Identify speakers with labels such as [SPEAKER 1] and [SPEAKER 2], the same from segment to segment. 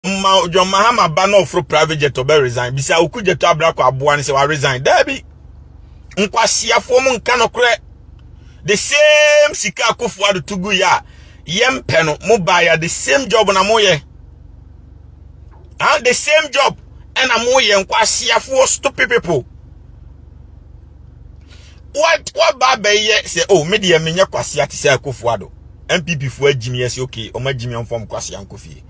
[SPEAKER 1] ma john mahama ba na ɔforo private jet ɔbɛ resign bisa oku jeto abrako aboa ne sɛ wa resign daabi nkwaseafoɔ mu nka no korɛ the same sika akofo ado to gu yɛ a yɛmpɛ no mo baeɛ the same job na moyɛ ah the same job ɛna moyɛ nkwaseafoɔ stupid people what what ba bɛn yɛ sɛ oh me deɛ menyɛ kwasea te sɛ akofo ado npp fo agyimi yɛ sɛ okay ɔmo agyimi ɔmfam kwasea nkofie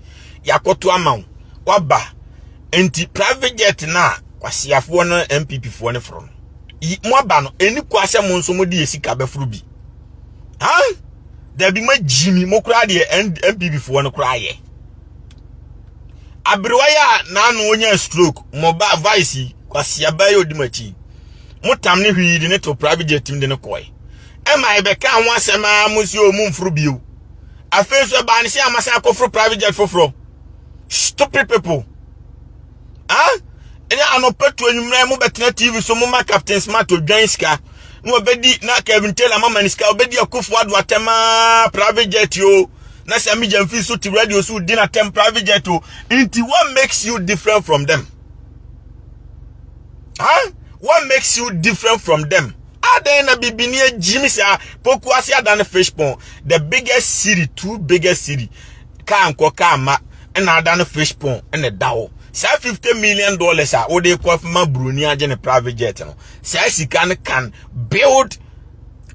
[SPEAKER 1] yakoto ama wo waba nti private jet na kwaseafoɔ no npp foɔ no foro no mo aba no ɛni kwa sɛ mo nso mo de sika bɛforo bi ha dabi ma gyimi mo koraa deɛ npp foɔ no koraa yɛ aberewa yɛ a n'ano onya stroke mo ba vice kwaseaba yɛ odi mo akyi motam ne hwii de ne to private jet mu de ne kɔe ɛma ɛbɛka ho asɛm a mo si o momforo bio afei nso ɛbaa ne sɛ amasan akɔforo private jet foforɔ stupid people ah ɛne anɔpa tu anwummerɛ mo bɛtena tv so moma captain smart odwan sika na wɔbɛdi na kevin taylor mama ne sika wɔbɛdi akufo ado atɛm a private jet o na sɛ megya mfii so te radio so di no atɛm private jet o nti what makes you different from them Huh? What makes you different from them? Adan na bibini ejimi sa poku ase adan fish pond. The biggest city, two biggest city. Ka nko ka ma na adan fish pond na dawo. Sa 50 million dollars a wo de kɔ ma broni agye ne private jet no. Sa sika no can build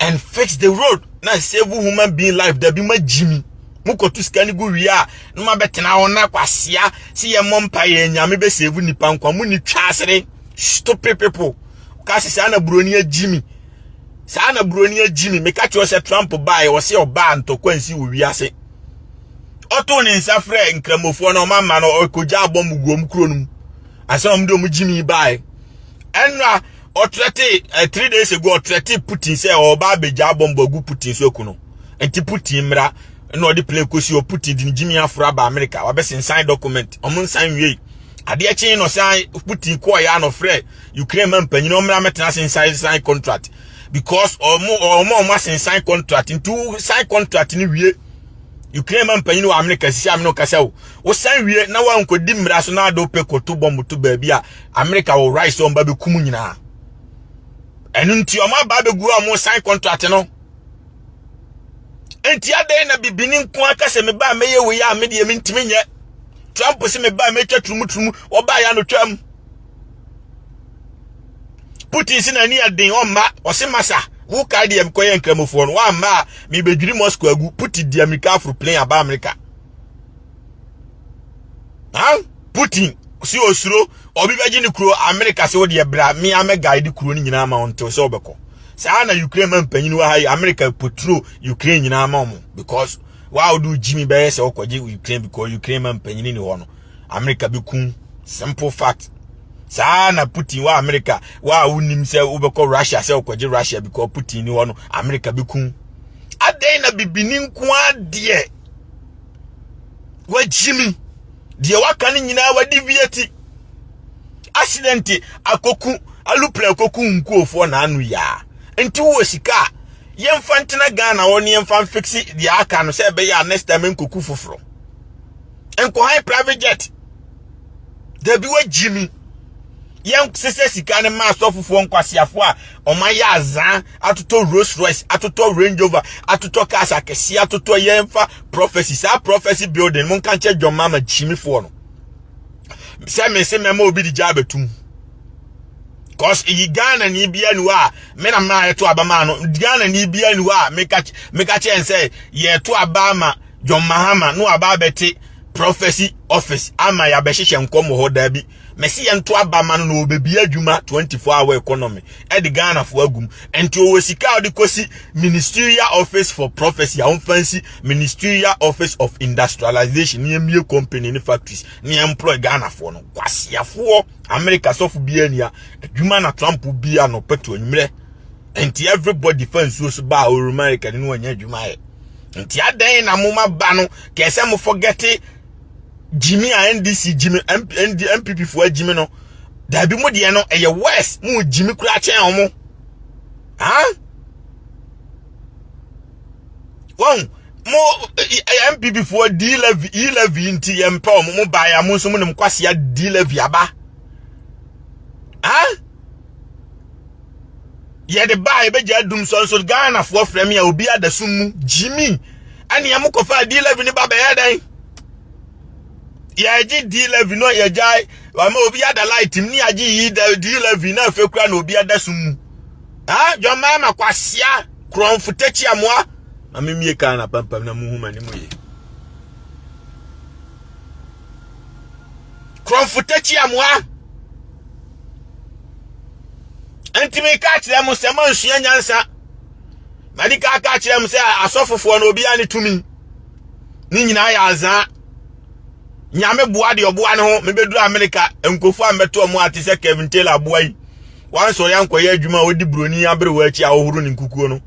[SPEAKER 1] and fix the road na save human being life dabi ma gyimi mokɔto sika no gu wie a na mabɛtena hɔ na kwasea sɛ yɛmmɔ mpa yɛ nyame bɛ save nnipa nkwa mu ni twa asere stupid people ka sɛ saa na buroni agyi mi saa na buroni agyi mi meka kyerɛ sɛ trump baeɛ wɔ sɛ ɔbaa ntɔkwa nsi wɔ wiase ɔtoo ne nsa frɛ nkramofoɔ na ɔma ma no ɔkɔgya abɔ mu guom kuro no mu asɛ ɔm de ɔm gyi mi baeɛ ɛnna ɔtrɛte eh, three days ago ɔtrɛte putin sɛ ɔba abɛgya bɔmbɔ agu putin so aku no nti putin mmra na ɔde plane kɔsi hɔ putin de ne gyimi aforo aba amerika wabɛsensan document ɔmo nsan nwiei adeɛ kyen no san putin kɔɔyɛ a na ɔfrɛ ukraine ma mpanyin ɔmmra mɛtena ase nsan sign contract because ɔmo ɔmo ɔmo asensan contract nti sign contract no wie ukraine ma mpanyin wɔ amerika sisi amene kasa o wosan wie na wankɔdi mmara so na ade wopɛ kɔto bɔmbo to baabi a amerika wɔ right sɛ ɔmba bɛkum nyinaa ɛno nti ɔma aba bɛgu a ɔmo san contract no nti adɛn na bibini nko aka sɛ mebaa mɛyɛ wei a medeɛ mentimi nyɛ trump se mebaa mɛtwa turumu turumu ɔbaa yɛ anotwam putin si n'ani aden ɔmma ɔse masa wo kae deɛ mekɔyɛ nkramofoɔ no woamma a mebɛdwiri moscow agu putin di amerika aforo plane aba amerika ha putin si osuro obi bɛgye ne kuro amerika sɛ wodeɛ bra me a mɛguide kuro no nyinaa ma ɔntew sɛ wobɛkɔ saa na ukraine ma mpanyin wɔ ha yi amerika potro ukraine nyinaa ma ɔmo because wa wode gyimi bɛyɛ sɛ wokɔgye ukraine because ukraine ma mpanyin ni hɔ no America bɛku simple fact saa na Putin wɔ America wɔ a wonim sɛ wobɛkɔ Russia sɛ wokɔgye Russia because Putin ni hɔ no America bɛku adɛn na bibini nko adeɛ wagyimi deɛ waka no nyinaa wadi wiati accident akoku alupere akoku nkuofoɔ na ano yaa nti wowɔ sika a yɛmfa ntena Ghana hɔ ne yɛmfa mfiksi deɛ aka no sɛ ɛbɛyɛ a next time nkoku foforɔ nkɔhan private jet dabi wagyi mi yɛn sesɛ sika no ma asɔfofoɔ nkwaseafoɔ a wɔn ayɛ azan atotɔ rolls royce atotɔ range rover atotɔ cars akɛseɛ atotɔ yɛn fa prophecy saa prophecy building mo nka nkyɛ john mama gyimifoɔ no sɛ mese mɛma obi de gya abɛtum cause yi ghana ni bia ni hɔ a me na maa yɛto aba maa no ghana ni bia ni hɔ a meka kyɛ nsɛ yɛto aba ma John Mahama no aba abɛte prophecy office ama yɛabɛhyehyɛ nkɔm wɔ hɔ daa bi mɛsi yɛn to aba ma no na ɔbɛbi adwuma 24 hour economy ɛde ghanafoɔ agum ɛnti ɔwɔ sika a ɔde kɔsi ministerial office for prophecy a ɔmfa nsi ministerial office of industrialization ne ɛmmie company ne factories ne ɛmplɔy ghanafoɔ no kwaseafoɔ amerika sɔfo biara nia adwuma na trump bia no pɛto nwumerɛ nti everybody fa nsuo so baa ɔrumarika ne no anya adwuma ayɛ nti adɛn na mo ma ba no kɛɛ sɛ mo forgete gyimi a ndc gyimi mpp foɔ gyimi no daabi mo deɛ no ɛyɛ worse mo gyimi koraa kyɛn ɔmo ha wɔn mo mpp foɔ d levy e levy nti yɛn mpɛ ɔmo mo baa yɛ mo nso mo nam kwasia d levy aba ha. yɛde baa yɛbɛgya adum sɔ nso ghanafoɔ frɛ me a obi adasum mu gyimi ɛneɛ mo kɔfa d11 ne ba bɛyɛ dɛn yɛgye d11 no yɛgyae ama obi ada light mu ne yɛagye yi d11 na afei kora na obi adasum mu ah dwammaa ma kwasia korɔmfo takyi amoa ma memie kaa na pampam na muhu ma ne mu ye korɔmfo takyi amoa nti meka akyerɛ mo sɛ moansua nyansa madi ka ka akyerɛ mo sɛ asɔfofoɔ no obiara ne tumi ne nyinaa yɛ azaa nyame boa deɛ ɔboa ne ho mebɛduru amerika nkofo a mbɛto ɔmo ate sɛ kevin taylor aboa yi wanso ɔyɛ ankɔyɛ adwuma a ɔdi buroni aberewa akyi a ɔhoro ne nkukuo no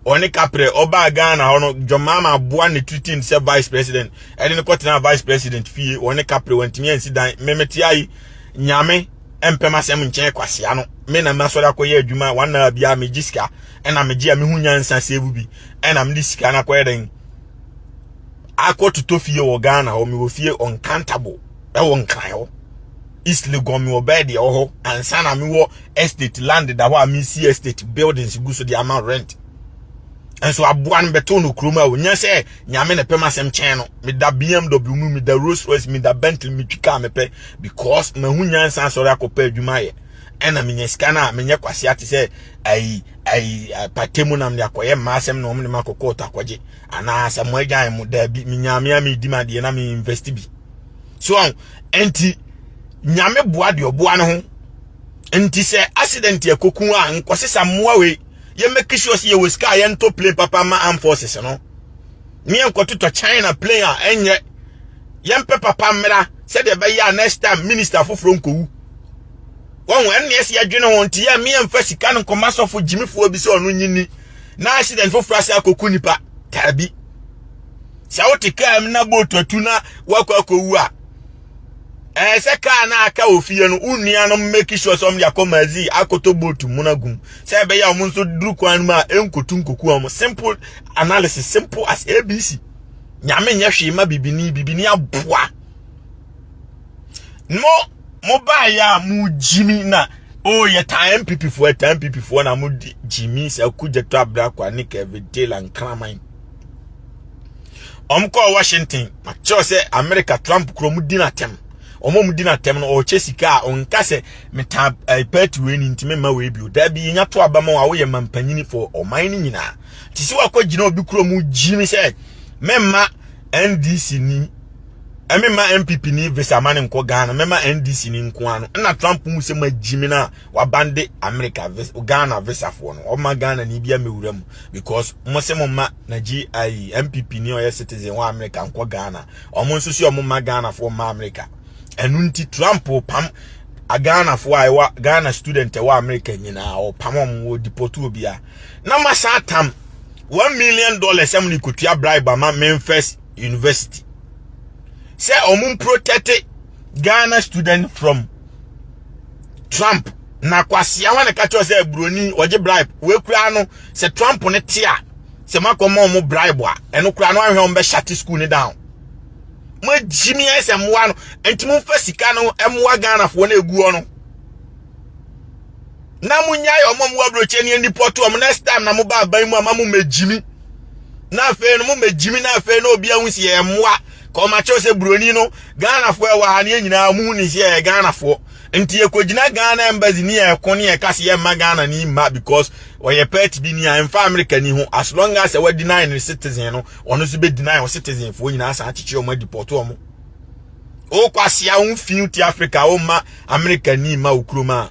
[SPEAKER 1] ɔne kaprɛ ɔbaa ghana hɔ no john mama aboa ne treating sɛ vice president ɛde ne kɔtena vice president fie ɔne kaprɛ wantumi ansi dan memete ayi Nyame ɛmpɛ m'asɛm nkyɛn kwasea no me na m'asɔre akɔyɛ adwuma wɔn na bia megye sika ɛna megye a mehu nyansa save bi ɛna mede sika no akɔyɛ dɛn akɔtotɔ fie wɔ Ghana hɔ mewɔ fie uncountable ɛwɔ nkran hɔ East Legon mewɔ bɛɛ deɛ wɔ hɔ ansa na mewɔ estate land da hɔ a mesi estate buildings gu so de ama rent nso aboa no bɛto no kurom a onya sɛ Nyame na pɛ m'asɛm kyɛn no. Meda BMW mu, meda Rolls Royce, meda Bentley, metwi kaa mepɛ because mahu nyansa asɔre akɔpɛ adwuma ayɛ. Ɛna menya sika no a menyɛ kwasea te sɛ ayi ayi pate mu nam de akɔyɛ mmaa asɛm na wɔn de makɔ kɔɔto akɔgye anaa sɛ mo agyan mo daabi menya me a medi m'adeɛ na me invest bi. So ɛnti nyame boa deɛ ɔboa no ho nti sɛ accident ɛkɔku a nkɔsesa mmoa wei yɛ make sure sɛ yɛwɔ sika a yɛntɔ plane papa ma armed forces no ne yɛnkɔtotɔ china plane a ɛnyɛ yɛmpɛ papa mmra sɛdeɛ ɛbɛyɛ a next time minister foforɔ nkɔwu wɔn ɛnna ɛsɛ yɛdwene ho nti yɛ mmea mfa sika no nkɔma sɔfo gyimifoɔ bi sɛ ɔno nyini na accident foforɔ ase akɔku nipa taabi sɛ wote kaa mu na bootu atu na woakɔ akɔwu a ɛɛ sɛ kaa no aka wɔ fie no wo nuanom mmɛki sure sɛ ɔmde akɔ magazine akɔtɔ boat mu no agum sɛ ɛbɛyɛ a ɔmo nso duru kwan no mu a ɛnkotu nkoku ɔmo simple analysis simple as abc nyame nyɛ hwee ma bibini bibini aboa mo mo baayɛ a mo gyimi na o yɛ taa mpp foɔ taa mpp foɔ na mo gyimi sɛ akugya to abrakwa ne kɛvidela nkraman wɔn kɔɔ washington kyerɛ sɛ america trump kuro mu di n'atɛm wɔn a wɔdi n'atɛm no ɔrekyɛ sika a ɔnka sɛ metaa ɛɛ eh, pɛɛti wei ni ntumi mma wei bio daabi yɛnya to aba ma wɔn a wɔyɛ mampanyini fo ɔman no nyinaa te sɛ wakɔ gyina obi kuro mu gyi ne sɛ mɛmma ndc ni ɛmɛma npp ni visa ma ne nkɔ ghana mɛma ndc ni nko ano ɛna trump mu sɛ ma gyi me na wabande america vis ghana visafoɔ no ɔma ghana ni bia mewura mu because mo se mo ma na gi mpp ni ɔyɛ citizen wɔ america nkɔ ghana ɔmo nso si ɔmo ma ghana foɔ ma america ɛnu nti trump pam a ghana foɔ a ɛwɔ ghana student ɛwɔ america nyinaa ɔpam ɔmo wɔ deport obia na masa atam one million dollars ɛmo ne kotua bribe ama memphis university sɛ ɔmo protect ghana student from trump na kwasea wa na ɛka kyerɛ sɛ buroni ɔgye bribe wei koraa no sɛ trump ne te a sɛ moakɔma ɔmo bribe a ɛno koraa no ahwɛ ɔmo bɛhyate school ne down moagyi me ayɛ sɛ mmoa no nti momfa sika no mmoa ghanafoɔ no ɛguɔ no na monyae ɔmo ɔmo aburokyɛ ne anipɔ to ɔmo next time na moba aban mu ama momɛgyi me na afei no momɛgyi me na afei na obi ahu si yɛ mmoa kɔmakyɛw sɛ buroni no ghanafoɔ ɛwɔ ha ne yɛ nyinaa mu ne sɛ yɛ ghanafoɔ Nti yɛkɔgyina Ghana embassy ne yɛ ko ne yɛ ka se yɛ mma Ghana ni mma because ɔyɛ party bi ni a ɛmfa America ni ho as long as ɛwa deny ne citizen no ɔno nso bɛ deny ɔ citizen foɔ nyinaa san akyekye ɔmo adipɔto ɔmo ɔkɔ aseɛ wo fi ti Africa wo mma America ni mma wo kurom a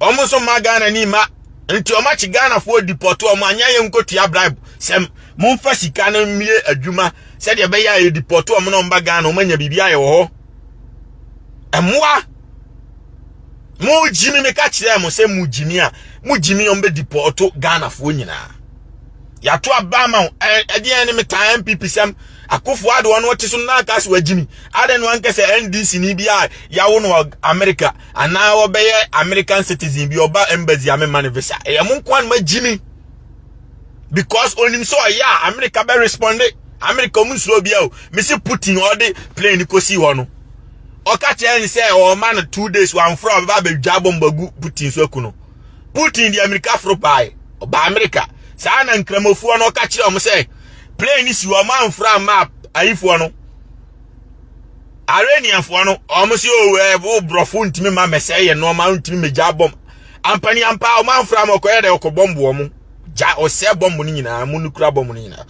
[SPEAKER 1] ɔmo nso mma Ghana ni mma nti ɔmo akye Ghana foɔ dipɔto ɔmo anyɛ yɛ nkotua bribe sɛm momfa sika no mmie adwuma sɛdeɛ ɛbɛyɛ a yɛdipɔto ɔmo na ɔmba Ghana ɔmo anya biribi ayɛ wɔ hɔ mmoa mo gyimi me ka kyerɛ mo sɛ mo gyimi a mo gyimi wɔn bɛ dipɔɔto ghanafoɔ nyinaa yɛato aba ma wo ɛdeɛn ne metaa mpp sɛm akofo ade ɔno ɔte so na aka so agyimi adɛn no anka sɛ ndc ni bi a yɛawo no wɔ america anaa wɔbɛyɛ american citizen bi ɔba embassy a mema no visa ɛyɛ mo nko a no magyimi because onim sɛ ɔyɛ a amerika bɛ responde amerika ɔmo nsuro bia o mesi putin ɔde plane kɔsi hɔ no ɔka kyerɛ ne sɛ ɔma no two days wamfrɛ a ɔbɛba abɛdwa bɔmba gu putin so aku no putin de amerika foro bae ɔba amerika saa na nkramofoɔ no ɔka kyerɛ ɔmo sɛ plane si hɔ ɔmo amfrɛ amma ayifoɔ no areniafoɔ no ɔmo sɛ ɔwɔ oh, eh, borɔfo ntumi ma mɛsɛe yɛ nneɛma ntumi mɛgya bɔmba Ampa ni ampa wɔn amfra wɔn kɔyɛ dɛ ɔkɔ bɔmbu wɔn gya ɔsɛɛ bɔmbu no nyinaa mu no kura bɔmbu no nyinaa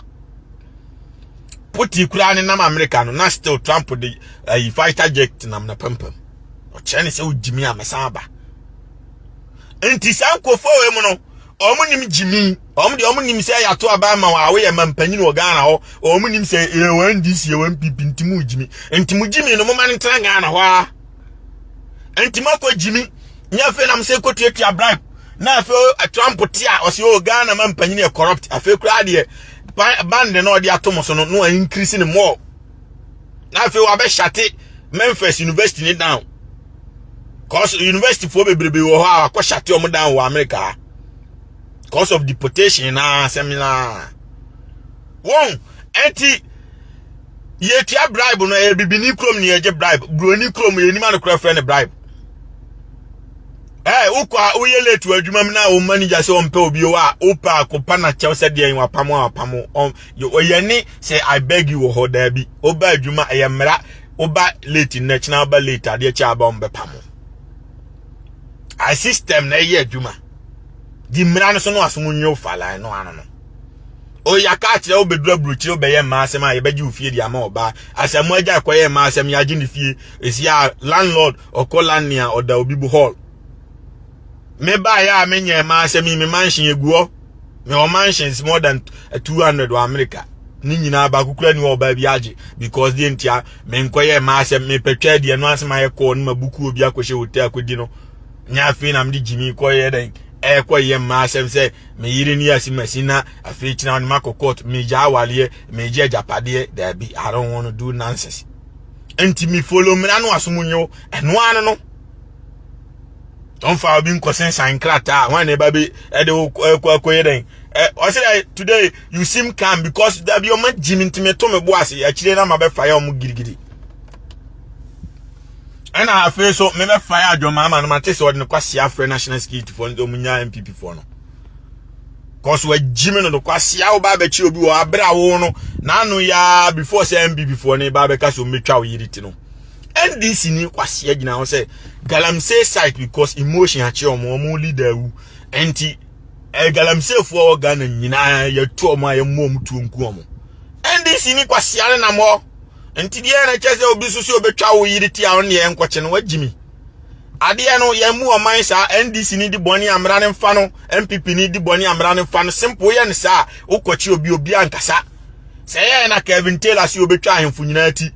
[SPEAKER 1] puti kura ne nam amerika no na still trump de ayi eh, fighter jet nam na pampam ɔkyerɛ ne sɛ wogyimi a mɛsan aba nti saa nkofo wɔ mu no wɔn nim gyimi wɔn de wɔn nim sɛ yɛato aba ama wɔn a wɔyɛ mampanyin wɔ ghana hɔ wɔn nim sɛ yɛ wɔn ndc yɛ wɔn npp nti mu gyimi nti mu gyimi no mo ma no ntena ghana hɔ a. nti makɔ gyimi nyɛ afei nam sɛ kɔtuatua bribe na afei trump te a ɔsɛ ɔ ghana ma mpanyin yɛ corrupt afei koraa deɛ band na ɔde ato mo so no no a increase ne mɔɔ na afei wabɛhyate memphis university ne down cause university foɔ bebrebe wɔ hɔ a wakɔhyate ɔmo down wɔ america cause of deportation na asɛm na wɔn ɛnti yɛtua bribe no ɛyɛ bibini kurom ne yɛgye bribe buroni kurom yɛnim anokorɛ frɛ no bribe ɛɛ wokɔ a woyɛ late wɔ adwuma mu na wo manager sɛ ɔmpɛ obi wɔ a wopɛ a kopa na kyɛw sɛ deɛ wapamo a wapamo ɔyɛ ne sɛ i beg you wɔ hɔ daabi woba adwuma ɛyɛ mmara woba late nnɛ kyena woba late adeɛ kyɛ aba ɔmbɛpamo a system na ɛyɛ adwuma di mmara no so no aso mu nyew fala no ano no ɔyɛ aka akyerɛ wobɛduru aburokyire wobɛyɛ mmaa asɛm a yɛbɛgye wo fie de ama ɔbaa asɛm agya ɛkɔyɛ mmaa asɛm yɛagye ne fie ɛsi a landlord ɔkɔ landne a ɔda obi bu hall mebaeɛ a menyɛ mmaa asɛm yi me manhyen ɛguɔ mewɔ mansions more than 200 wɔ america ne nyinaa baako kura ni wɔ ɔbaa bi agye because deɛ ntia menkɔyɛ mmaa asɛm mepɛtwa deɛ no asɛm ayɛ kɔɔ no ma buku obi akɔhyɛ hotel akɔdi no nyɛ afei na mede gyimi kɔyɛ dɛn ɛkɔyɛ mmaa asɛm sɛ me yere ni asi masi na afei kyina no makɔ court me gya awaleɛ me gya agyapadeɛ daabi I don't want to do nonsense nti me follow mmira no asom nyew ɛno ano no ɔmfa obi nkɔsensan nkrataa wɔn na ɛba bi ɛde kɔ akɔyɛ dɛn ɔsɛ dɛ today you seem calm because dabi ɔma gyi me ntumi to me bo ase akyire na ma bɛfa yɛ ɔmo girigiri ɛna afei so mebɛfae adwoma ama no mate sɛ ɔde no kwasea afrɛ national security foɔ no de ɔmunya mpp foɔ no kɔso agyi me no no kwasea wo ba bɛkyi obi wɔ aberɛ a wo no n'ano yɛa before sɛ mpp foɔ no ba bɛka sɛ ɔmmɛtwa wo yere ti no ndc ni kwasea gyina ho sɛ galamsey site because emotion akye ɔmo ɔmo leader wu ɛnti eh, galamsey foɔ wɔ ghana nyinaa yɛtu ɔmo a yɛmmɔ ɔmo tuo nku ɔmo ndc ni kwasea ne nam hɔ nti deɛ na kyɛ sɛ obi so sɛ obɛtwa wo yere ti a ɔno deɛ nkɔkye no wagyi mi adeɛ no yɛn mu ɔman saa ndc ni di bɔne amena ne mfa no npp ni di bɔne amena ne mfa no simple yɛ ne saa wokɔkye obi obi ankasa sɛ yɛyɛ na kevin taylor sɛ obɛtwa ahemfo nyinaa ti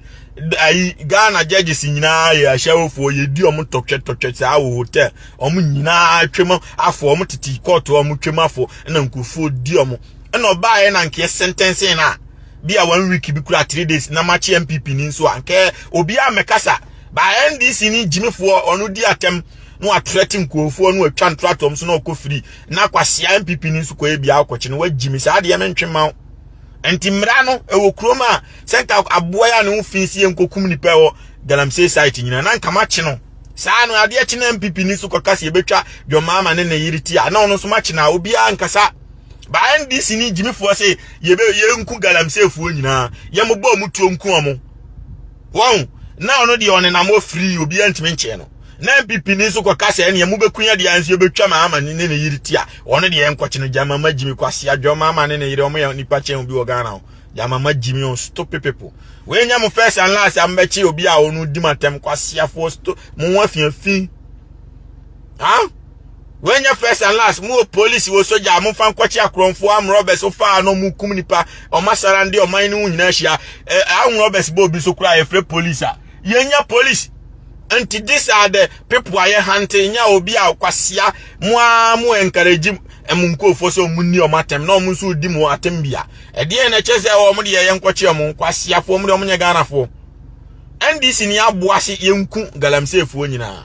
[SPEAKER 1] ayi ghana judges nyinaa yɛ ahyɛwofoɔ yɛdi ɔmo tɔtwɛ tɔtwɛ saa wɔ hotel ɔmo nyinaa twam afo ɔmo tete kɔɔto ɔmo twam afo na nkurɔfoɔ di ɔmo ɛna ɔbaeɛ na nkeɛ sentɛnse no a bi a one week bi kura three days na makye npp ni nso a nkɛ obiara mmɛkasa ba ndc ni gyimifoɔ ɔno di atɛm na watrɛte nkurɔfoɔ na watwa ntoratɔm so na ɔkɔ firi na kwasea npp ni nso kɔyɛ biara kɔkye no wagyimi saa adeɛ mentwe ma wo nti mmara no ɛwɔ kurom a sɛ nka aboa yɛ a ne ho fi si yɛ nkɔkum nipa ɛwɔ galamsey site nyina na nka makye no saa no adeɛ kye na npp ni nso kɔka sɛ yɛbɛtwa dwɔmaama ne ne yere ti a na ɔno nso makye no a obiara nkasa ba ndc ne gyimifoɔ se yɛbɛ yɛnku galamseefoɔ nyinaa yɛmobɔ ɔmo tuo nku ɔmo wɔn na ɔno deɛ ɔnenam wɔ firi obiara ntumi nkyɛn no na npp ni nso kɔka sɛ ɛneɛ mobɛku yɛ deɛ nso yɛbɛtwa ma ama ne ne yere ti a ɔno deɛ nkɔkye no gyama ma gyimi kwase adwama ama ne ne yere ɔmo yɛ nipa kyɛn obi wɔ ghana ho gyama ma gyimi on stupid people wɔanya mo first and last a mobɛkye obi a ɔno di matɛm kwaseafoɔ sto mo ho afiafi ha Wei nyɛ first and last. Mo wɔ police wɔ soja. Mo fa nkɔkye akorɔmfoɔ am robbers wɔ faa no mo kum nipa. Ɔmo asara nde ɔman no ho nyinaa hyia. Eh, am robbers bɔ obi so kura yɛfrɛ police a. Yɛnyɛ police. Nti these are the people a yɛ hante nya obi a kwasia mo a mo encourage mo nkurɔfoɔ sɛ ɔmo nni ɔmo atɛm na ɔmo nso di mo atɛm bia. Ɛdeɛ na ɛkyɛ sɛ ɔmo de yɛyɛ nkɔkye ɔmo kwasiafoɔ ɔmo de ɔmo nyɛ Ghanafoɔ. NDC ni aboa se yɛnku galamseefoɔ nyinaa.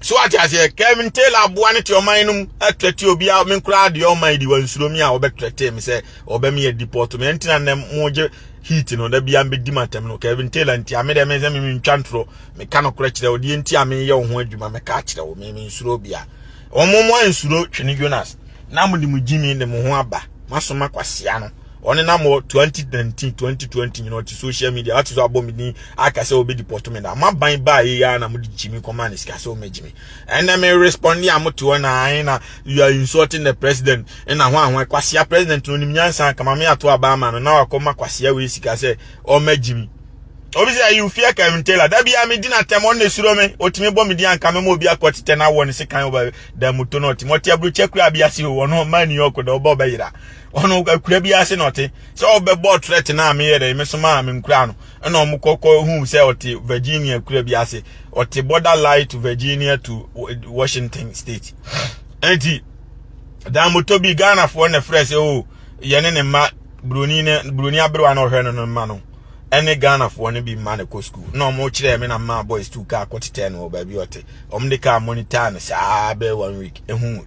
[SPEAKER 1] so ate aseɛ kevin taylor aboa no te ɔman no mu atrɛte obiara me koraa deɛ ɔman di wansuro mi a wɔbɛtrɛte me sɛ ɔbɛmi yɛ deport me ɛntina nnɛ mogye heat no da bia mbɛdi m atɛm no kevin taylor nti ame deɛ me sɛ meme ntwa ntorɔ meka no korɛ kyerɛ wo deɛ nti a meyɛ wo ho adwuma meka kyerɛ wo meme nsuro bia ɔmo mo ansuro twene jonas na mode mo gyimi de mo ho aba masoma kwasea no ɔne nam wɔ 2019 2020 nyina ɔte social media ɔte so abɔ me din aka sɛ ɔbɛdi pɔto me da ma ban baa yɛ yɛ na mode gyimi kɔma ne sika sɛ ɔmɛgye me ɛnɛ me responde a mote hɔ na ae na you are insulting the president ɛna ho ahoa kwasea president no nim nyansa kama me ato abaa ma no na wakɔma kwasea wei sika sɛ ɔmɛgye me obi sɛ you fear Kevin Taylor da bia me di na tɛm ɔne suro me ɔtumi bɔ me di anka me ma obi akɔ tetɛ na awɔ ne sekan ɔba da mu to no ɔtumi ɔte aburokyɛ kura bi ase o ɔno ɔma New York da ɔba ɔbɛyera ɔno akura bi ase na ɔte sɛ ɔbɛbɔ threat na meyɛ dɛ me soma a menkura no ɛna ɔmo kɔkɔ hu sɛ ɔte Virginia kura bi ase ɔte border line to Virginia to Washington state ɛnti dan moto bi Ghanafoɔ na frɛ sɛ o yɛne ne mma buroni ne buroni aberewa na ɔhwɛ no no mma no ɛne Ghanafoɔ no bi mma no kɔ school na ɔmo kyerɛ me na mma boys tu kaa kɔtetɛ no wɔ baabi ɔte ɔmo de kaa monitor no saa bɛɛ one week ehu